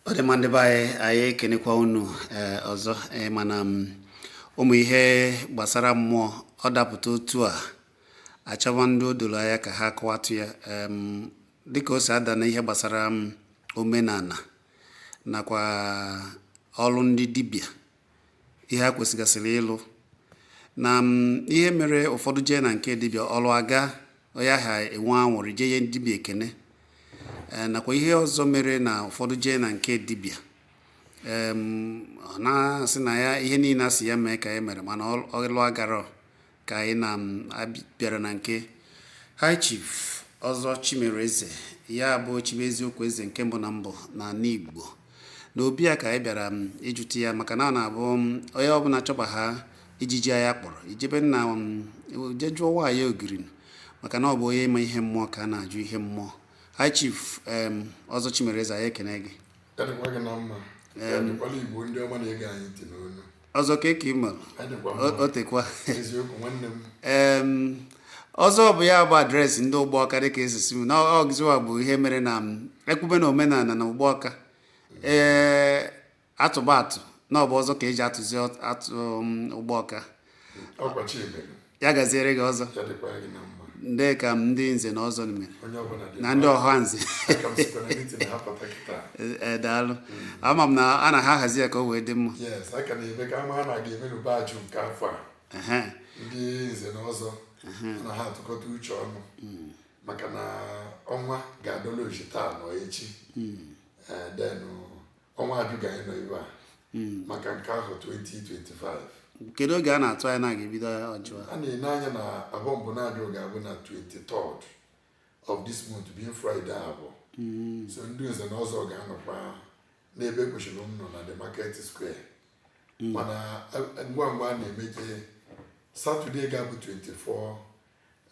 ọ dị mma ndị be anyị anyị ekenekwa unu ee eh, ọzọ ee eh, mana mm, ụmụ ihe gbasara mmụọ ọ dapụta otu a achọwa ndị o doro anya ka ha kọwatụ ya dịka o si ada na ihe gbasara mm, omenala nakwa ọlụ ndị dibịa ihe ha kwesịgasịrị ịlụ na ihe mere ụfọdụ jee na nke dibịa ọlụ aga onye ahụ enwe anwụrị jee nye dibịa ekene e, nakwa ihe ọzọ mere na ụfọdụ jee na nke dibịa ọ na-asị na ya ihe niile a sị ya mee ka ya mere mana ọlụ agara Ka anyị na-abịara na nke High Chief Ọzọ Chimere Eze, ya bụ Chibu Eziokwu Eze nke mbụ na mbụ n'ala Igbo. Na obi ya ka anyị bịara ịjụta ya maka na ọ na-abụ mm, onye ọbụla chọba aha ijiji anya kpọrọ i jebe na je jụọ nwaanyị ogiri maka na ọ bụ onye ma ihe mmụọ ka a na-ajụ ihe mmụọ. High Chief em, Ọzọ Chimere Eze, anyị ekene gị. Ya dịkwa gị na mma. Ya dịkwala Igbo ndị ọma na-ege anyị ntị n'ụnọ. ọzọ ka eke ịma otekwa ọzọ bụ ya bụ adreesị ndị Ugbawka dịka esisi m na ọgụziwa bụ ihe mere na e kwube na omenala na Ugbawka ee a tụba atụ na ọ bụ ọzọ ka e ji atụzi atụ Ugbawka ya gaziere gị ọzọ ndị ka m ndị nze na ọzọ mere na ndị ọhaneze e, daalụ hmm. ama m na a na-ahazi ya ka o wee dị mma ndị nze na ọzọ na-atụkọta uche ọnụ hmm. maka na ọnwa ga-adọla oji taa na echi hmm. e, denụ ọnwa Ajụ ka anyị nọ ebe a hmm. maka nke ahọ 2025 kedu oge a na-atụ anya na ga-ebido Ajụ a na-ene anya na Afọ mbụ na-abịa ga-abụ na 23rd of this month being Friday Afọ hmm. so ndị nze na ọzọ ga-anọkwa n'ebe kwesịrị ịnọ na the market square hmm. mana eh, ngwa ngwa a na-emeje Saturday ga-abụ 24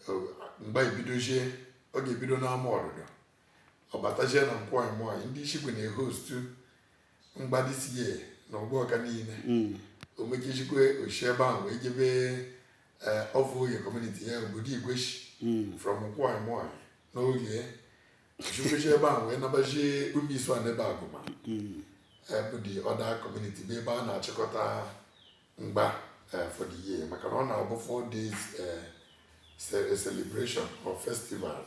eh, mgbe e bidozie ọ ga-ebido n'ama ọdụdọ ọ batazie na nkwọ anyị mụọ anyị ndị Ishigwe na-ehostu mgba this year na Ugbawka niile mm. o mechizikwe o si ebe ahụ wee jebe eh, Ovuorie community ya obodo igweshi mm. from nkwọ anyị mụọ anyị n'oge osikwesi ebe ahụ wee nabazie Umuisu a n'ebe agụma mm. eh, bụ the other community bụ ebe a na-achịkọta mgba eh, for the year maka na ọ na-abụ four days eh, ce- a celebration or festival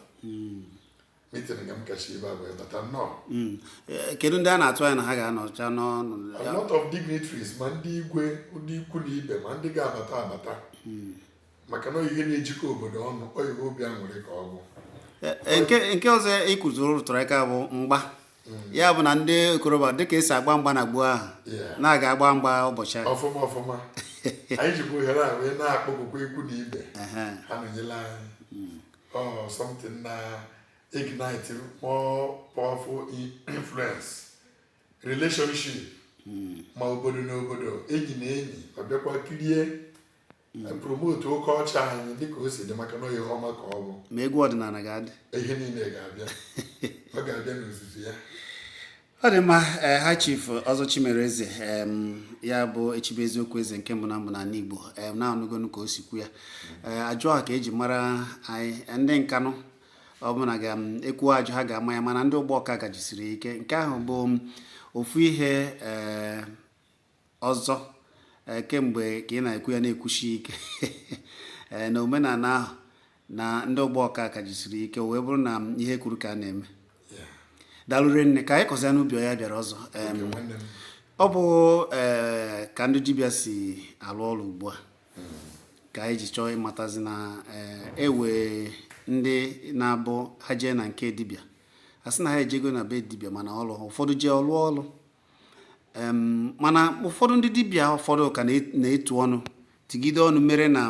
meeting nke m kacha ibe abụọ bata nnọọ Mm. Eh, kedu ndị a na-atụ anya na ha ga-anọcha n'ọnụ ya? A lot of dignitaries ma ndị igwe ndị ikwu na ibe ma ndị ga-abata abata maka na ihe na-ejikọ obodo ọnụ ọ ihe obi aṅụrị ka ọ bụ e, e, nke nke ọzọ ịkụziri e rụtụrụ aka bụ mgba mm. ya bụ na ndị okorobịa dịka esi agba mgba na gboo ahụ na-aga agba mgba ụbọchị ahụ ọfụma ọfụma anyị jikwa ohere a wee na-akpọkukwa ikwu na ibe ha nọnyela anyị mm. ọ something na-ignite more powerful influence relationship mm. ma obodo na obodo enyi na enyi ọ bịakwa kirie e promote culture anyị dịka o si dị maka na ihe ọma ka ọ bụ ma egwu ọdịnala ga-adị ihe niile ga-abịa ọ ga-abịa n'ozuzu ya ọ dị mma eh, high chief ọzọ chimere eze ya bụ echibe eziokwu eze nke mbụ na mbụ n'ala igbo na-anụgonu ka o si kwu ya eh, ajụ a ka eji mara anyị eh, ndị nkanụ ọbụla ga-ekwu ajụ ha ga-ama ya mana ndị ugbawka ka jisiri ike nke ahụ bụ ofu ihe ọzọ eh, kemgbe ka ị na-ekwu ya na-ekwusi ike eh, na omenala ahụ na ndị ugbawka ka jisiri ike wee bụrụ na ihe e kwuru ka a na-eme daalụ rinne ka anyị kọzia n'ubi ya bịara ọzọ ọ bụ eh, ka ndị dibịa si alụ ọlụ ugbu a hmm. ka anyị ji chọọ ịmatazi na e nwe ndị na-abụ ha jee na nke dibịa a sị na ha ejego na be dibịa mana ọlụ ụfọdụ jee ọ lụọ ọlụ mana ụfọdụ ndị dibịa ụfọdụ ka na-etu ọnụ tugide ọnụ mere na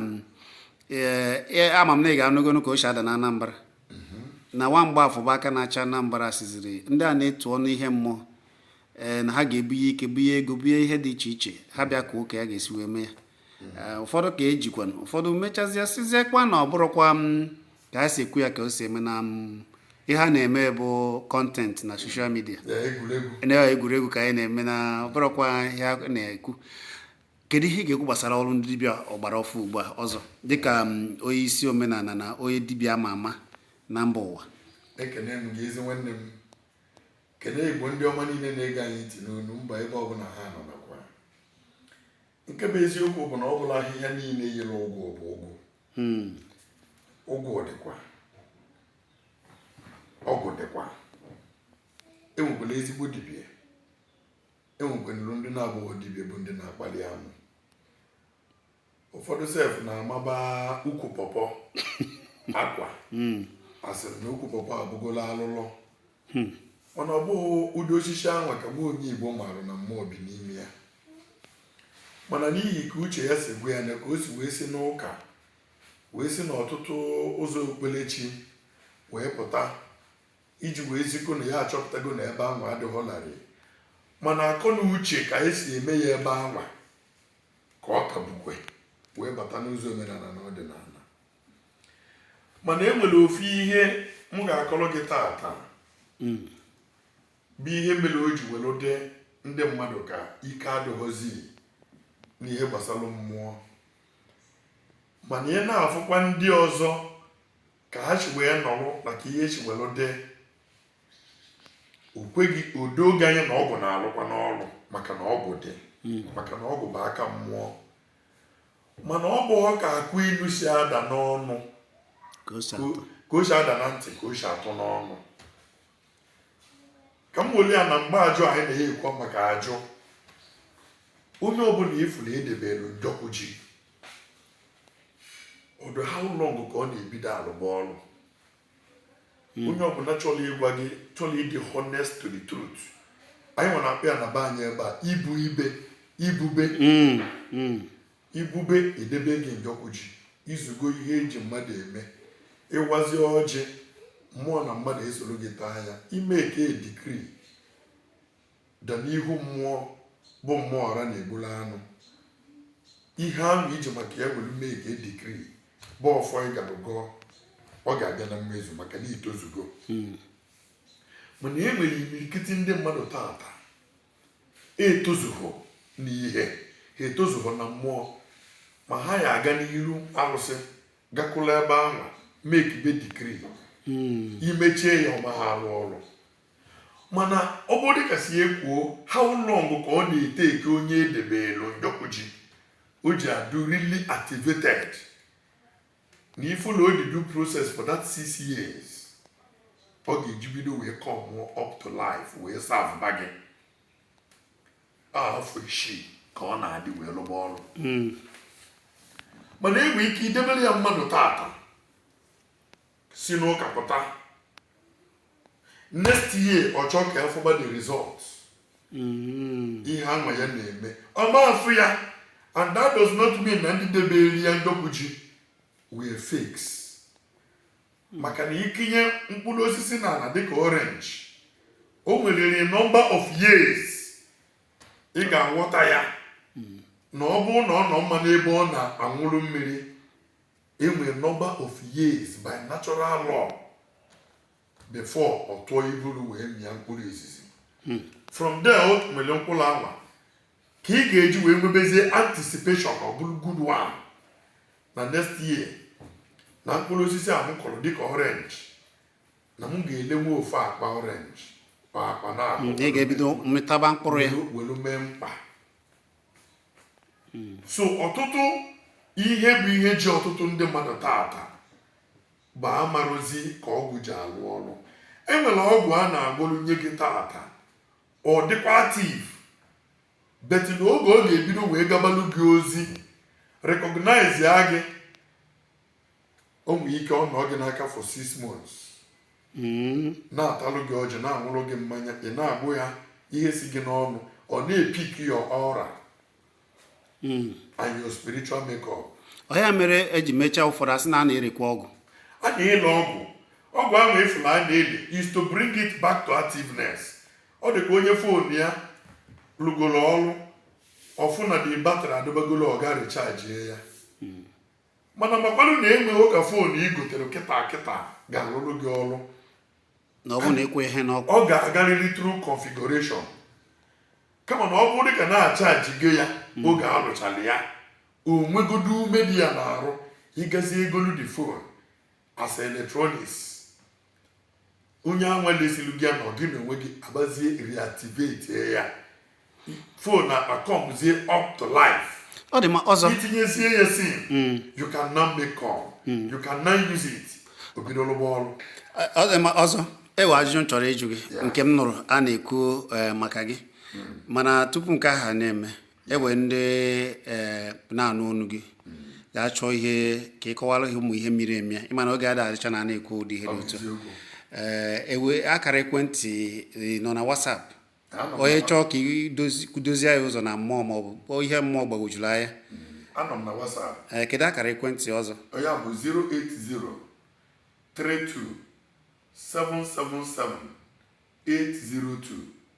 e, ama m na ị ga-anụgonu ka o si ada na Anambra mhm. na nwa mgbafọ bụ aka na-achị Anambra sịziri ndị a na-etu ọnụ ihe mmụọ ee eh, na ha ga-ebunye ike bunye ego bunye ihe dị iche iche ha bịa kọọ ka ya ga-esi wee mee ya eh, ụfọdụ ka ejikwanụ ụfọdụ mechazịa sịziekwa na ọ bụrọkwa m mm, ka ha si ekwu ya ka o si eme na m mm, ihe a na-eme bụ content na social media na egwuregwu ka anyị na-eme na ọ bụrọkwa ihe a na-ekwu kedu ihe ị ga-ekwu gbasara ọrụ ndị dibịa ọgbara ọfụụ ugbu a ọzọ dịka mm, onye isi omenala na onye dibịa ama ama na mba ụwa ekene m gị ezi nwanne m kene igbo ndị ọma niile na-ege anyị ntị n'onu mba ebe ọbụla ha nọ nakwa nke bụ eziokwu bụ na ọ bụrọ ahịhịa niile yiri ụgụ bụ ụgụ hmm. ụgụ dịkwa ọgwụ dịkwa enwekwalụ ezigbo dibịa enwekwanụrụ ndị na-abụghị dibịa bụ ndị na-akpali amụ ụfọdụ sef na-amaba ukwu pọpọ akwa hmm. a sịrị na ukwu pọpọ abụgola alụlọ hmm. mana ọ bụghị ụdị osisi anwa ka nwa onye Igbo maara na mmụọ bi n'ime ya mana n'ihi ka uche ya si gwa ya na ka o si wee si n'ụka wee si n'ọtụtụ ụzọ okpukperechi wee pụta iji wee zikọ na ya achọpụtago na ebe anwa adịghị larịị mana akọ na uche ka e si eme ya ebe anwa ka ọ ka bukwe wee bata n'ụzọ omenala na ọdịnala mana e nwere ofu ihe m ga-akọrọ gị taata hmm. bụ ihe mere o ji were dị ndị mmadụ ka ike adịghọzi n'ihe gbasara mmụọ mana ị na-afụkwa ndị ọzọ ka ha si wee nọrọ maka ihe si were dị o kweghị o doo gị anya na ọgwụ na-alụkwanụ ọrụ maka na ọgwụ dị hmm. maka na ọgwụ bụ aka mmụọ mana ọ bụghọ ka akụ ilu si ada n'ọnụ ka o si ka atọ o- ka o si ada na ntị ka o si atọ n'ọnụ ka m weli ya na mgbe ajụ anyị na ya ekwu maka ajụ onye ọbụla ị fụrụ edebelu njọkụ ji ọ dụ how long ka ọ na-ebido alụba ọrụ hmm. onye ọbụla chọrọ ịgwa gị chọrọ ịdị honest to the truth anyị nwere akpa ya na be anyị ebe a ibu ibe ibube hmm, hmm. ibube edebe gị njọkụ ji i zugo ihe e ji mmadụ eme ị wazi ọjị mmụọ na mmadụ esoro gị taa ya i make a decree bịa n'ihu mmụọ bụ mmụọ ọra na-egbulu anụ ihe ahụ i ji maka ya were make decree bụ ọfọ ị gara gọọ ọ ga-abịa na mmezu maka na i tozugo hmm. mana e nwere imirikiti ndị mmadụ taata etozughọ n'ihe ha etozughọ na mmụọ ma ha ya aga n'iru arụsị gakwụla ebe ahụ make be decree hmm. i mechie ya ọ maha arụ ọrụ Mana ọ bụ dịka si e kwuo, how long ka ọ na-eteki onye e debeelụ njọkụ ji o ji adụ really activated na ị fụ na ọ dị due process for that six years ọ ga-eji bido wee come up to life wee serve ba gị afọ isii ka ọ na-adị wee lụba ọrụ mana e nwe ike idebere ya mmadụ taata si n'ụka pụta next year ọ chọọ ka ya fụba the result mm. ihe anwa ya na-eme ọ ma afụ ya and that does not mean na ndị debere ya njọkụ ji were fakes maka na ị kụnye mkpụrụ osisi n'ala dịka orange o nwere number of years ị ga-aghọta ya na ọ bụrụ na ọ nọ mma n'ebe ọ na-aṅụrụ mmiri E nwere number of years by natural law before ọ tụọ iburu wee mịa mkpụrụ izizi hmm. from there o nwere mkpụrụ anwa ka ị ga-eji wee nwebezie anticipation ọ bụrụ good one na next year na mkpụrụ osisi a m kọrọ dịka orange na m ga-elenwu ofu akpa orange akpa naabọ hmm, ga-ebido mịtaba mkpụrụ ya welu mee mkpa hmm. so ọtụtụ ihe bụ ihe ji ọtụtụ ndị mmadụ taata bụ amarozi ka ọgwụ ji alụ ọrụ enwere ọgwụ a na-agwọrụ nye gị taata ọ dịkwa active but na oge ọ ga-ebido wee gabalụ gị ozi recognize ya gị o nwere ike ọ nọ gị n'aka for six months hmm. na-atalụ gị ọjị na-aṅụrụ gị mmanya ị na-agbụ ya ihe si gị n'ọnụ ọ na-epick your aura hmm. and your spiritual makeup ọ ya mere eji mechaa ụfọdụ asị na a na-erekwa ọgwụ a na-ele ọgwụ ọgwụ ahụ efula a na-ele is to bring it back to activeness ọ dị ka onye phone ya lụgoro ọrụ ọ fụ na the battery adịbago low ọ ga richajie ya mana makwanụ na enweghị ka phone i gotere kịta kịta ga-alụrụ gị ọrụ na ọ bụrụ na ekwughị ya n'ọkụ ọ ga-agarịrị through configuration kama na ọ bụ dịka na achajigo ya hmm. oge alụchala ya o nwegodu ume dị ya n'arụ ị gazie golu the phone as electronics onye anwa lesilu gị ngị na onwe gị abịazie reactivate ya phone acomezie up to life ọ dị mma Ọzọ i tinyezie ya sim hmm. you can now make call hmm. you can now use it o bido lụba ọrụ ọ dị mma Ọzọ enwe ajụjụ m chọrọ ịjụ gị nke m nụrụ a na-ekwu eh, maka gị hmm. mana tupu nke ahụ na-eme enwe ndị eh, na-anụ onu gị ga-achọ ihe ka ị kọwara ha ụmụ ihe miri emi ị ma na oge ada adịcha na a na-ekwu ụdị ihe dị otu a, enwe akara ekwentị eh, nọ na WhatsApp onye chọọ ka i duzie ya ụzọ na mmụọ ma ọ bụ ihe mmụọ gbagwojuru anya anọ m na WhatsApp ee kedu akara ekwentị Ọzọ ya bụ 08032777802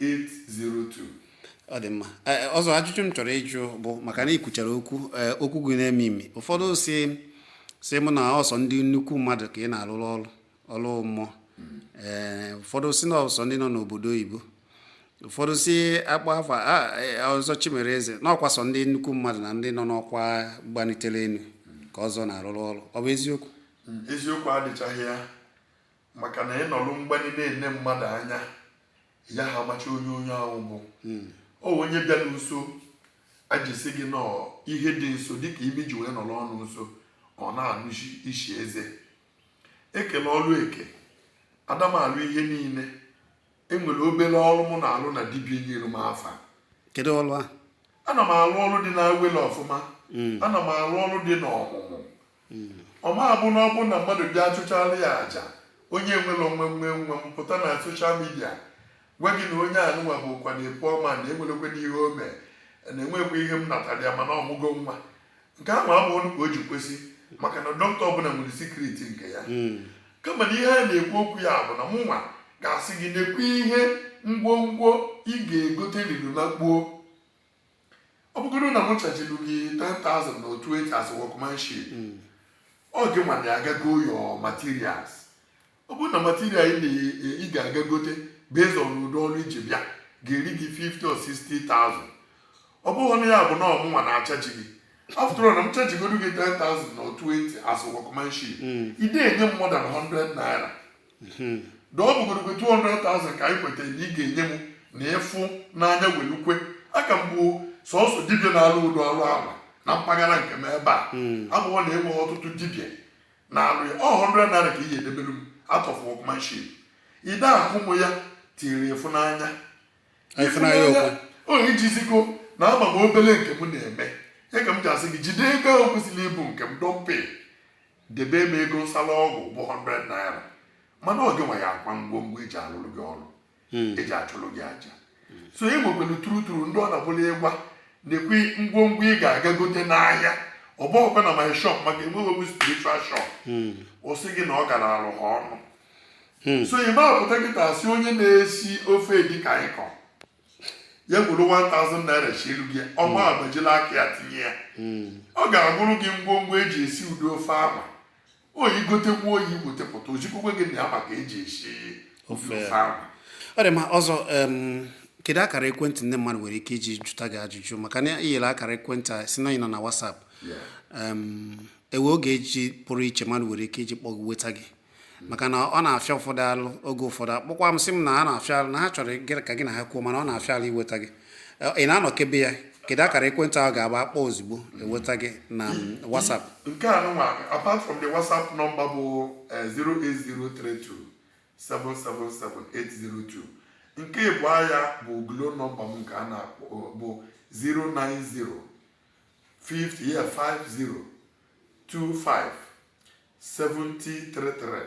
802 ọ dị mma e, e, Ọzọ ajụjụ m chọrọ ịjụ bụ maka na i kwuchara okwu e, okwu gị na-emi emi ụfọdụ sị sị mụ na ọ sọ ndị nnukwu mmadụ ka ị na-arụrụ ọrụ ọrụ mmụọ ee ụfọdụ sị na ọ sọ ndị nọ n'obodo oyibo ụfọdụ sị akpọ afa Ọzọ Chimereze na ọ kwa sọ ndị nnukwu mmadụ na ndị nọ n'ọkwa gbanitere elu ka Ọzọ na-arụrụ ọrụ ọ bụ eziokwu eziokwu adịchaghị ya maka na ị nọrụ mgbanye na-ene mmadụ anya ya ha amacha onye onye ahụ bụ hmm. ọ onye bịara nso e ji sị gị na ọ ihe dị nso dịka imi ji wee nọrọ ọnụ nso ọ na-anụ isi eze e kele ọrụ eke ada m alụ ihe niile enwere obere ọrụ mụ na-alụ na dibia nyere m afa kedu ọrụ a ana m alụ ọrụ dị n'awele ọfụma hmm. ana m alụ ọrụ dị n'ọmụmụ ọ ma abụ na ọ bụrụ na mmadụ bịa achụchala ya aja onye nwere onwe nwe m pụta na soshal midia gwa gị na onye anụnwa bụ ụkwa na-epu ọma na enwerekwe n'ihe o mee na enwekwa ihe m natara ya mana ọ mụgo nwa nke ahụ abụghị ka o ji kwesị maka na dọkịta ọbụla nwere sikriti nke ya hmm. kama na ihe a na-ekwu okwu ya bụ na mụ nwa ga-asị gị nekwa ihe ngwongwo ị ga-egote riri na gbuo ọ bụgodu na m chajilu gị 10,000 na 20 as workmanship ọ gị nwa na-aga ago your materials ọ bụrụ na material ị na- ị ga-aga gote based on ụdị ọrụ iji bịa ga-eri gị 50 or 60,000 ọ bụghị na ya bụ na ọ mụnwa na-achaji gị after all na m chajigodu gị 10,000 na 20 as workmanship ị da-enye m more than 100 naira hmm. ọ bụgodu 200,000 ka anyị kwetara na ị ga-enye m na ị fụ n'anya welukwe ya ka m bụ sọsọ dibịa na-alụ ụdị ọrụ ahụ na mpaghara nke m ebe a hmm. ọ bụ na enweghị ọtụtụ dibịa na-alụ ya ọ 100 naira ka ị ga-edebere m out of workmanship ị da-akwụ m ya till ị fụ n'anya ọ iji zi gị na ama m obele nke m na-eme ya ka m ji asị gị jide ego ahụ kwesịrị ịbụ nke m dọmpe debe m ego nsala ọgwụ bụ 100 naira mana ọ gịnwa ya akwa ngwongwo eji alụrụ gị ọrụ hmm. eji achụrụ gị aja so e nwekwere turuturu ndị ọ na-abụ ị gwa ha nekwa ngwongwo ị ga-aga gote n'ahịa ọ bụghịkwa na my shop maka enweghị m spiritual shop hmm. ọ sị gị na ọ galalụ ha ọnụ hmm. so ị ma apụta kịta sị onye na-esi ofe edikaikong ya welu 1000 naira sielu gị ọ ga-agbajili aka ya tinye ya ọ ga-agụrụ gị ngwongwo eji esi ụdị ofe ahụ ọ ị gotekwuo ị wetepụta o zikwukwe gị na ya ma ka eji esi ofe ahụ ọ dị mma ọzọ em, kedu akara ekwentị ndị mmadụ nwere ike iji jụta gị ajụjụ maka na i nyere akara ekwentị a si na ị nọ na WhatsApp em, ewe oge eji pụrụ iche mmadụ nwere ike iji kpọọ weta gị maka na ọ na-afịa ụfọdụ alụ oge ụfọdụ akpọkwa m sị m na a na-afịa alụ na ha chọrọ ka gị na ha kwuo mana ọ na-afịa alụ iweta gị Eh, ị na-anọkebe ya kedu akara ekwentị ahụ ga-abụ akpọọ ozugbo eweta gị na mm, WhatsApp nke a nụnwa apart from the whatsapp nọmba bụ eh, 08032777802 nke ibe ya bụ glo nọmba m nke a na-akpọ bụ 090 50 yeah, 50 25 7033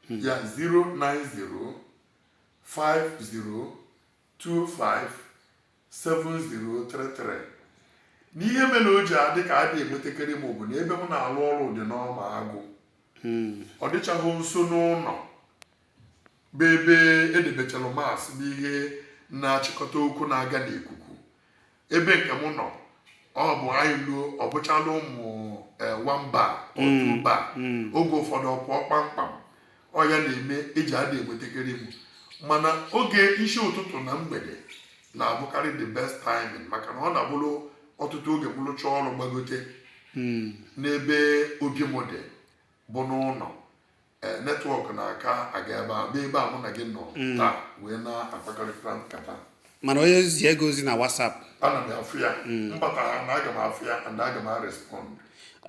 hmm. ya 090 50 25 7033 n'ihe mere o ji adị ka adị enwetakarị m bụ na ebe m na-alụ ọrụ dị n'ọma agụ hmm. ọ dịchaghị nso n'ụlọ bụ ebe edebechara mast bụ ihe na-achịkọta okwu na-aga n'ikuku ebe nke m nọ ọ bụ anyị luo ọ bụchala ụmụ eh, one bar or two bar mm, mm. oge ụfọdụ ọ pụọ kpamkpam ọ ya na-eme e ji ada enwetakarị m mana oge isi ụtụtụ na mgbede na-abụkarị the best timing maka na ọ na-abụrụ ọtụtụ oge m lụchaa ọrụ gbagote mm. n'ebe obi m dị bụ n'ụlọ ee netwọk na-aka aga ebe a bụ ebe a mụ na gị nọ mm. taa wee na-akpakọrịta nkata mana onye ziego ozi na WhatsApp ana m afụ ya mm. m bata ha na aga m afụ ya and aga m arespond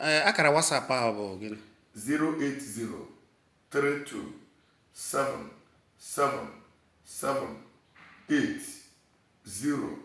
ee eh, akara WhatsApp ahụ bụ gịnị 080327778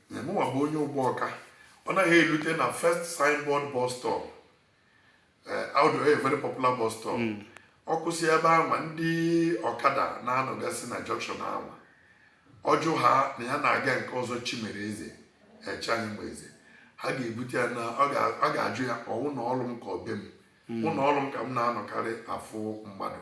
mụnwa bụ onye Ugbawka ọ naghị elute na first signboard bus stop eh, ọ dị a very popular bus stop hmm. ọ kwụsị ebe anwa ndị ọkada na-anọgasị na junction anwa ọ jụọ ha na ya na-aga nke Ọzọ Chimereze echaghị eh, m eze ha ga-ebute ya na ọ ga-ajụ ya ọ ụlọ ọrụ m ka ọ be m ụlọ hmm. ọrụ m ka m na-anọkarị afụ mmadụ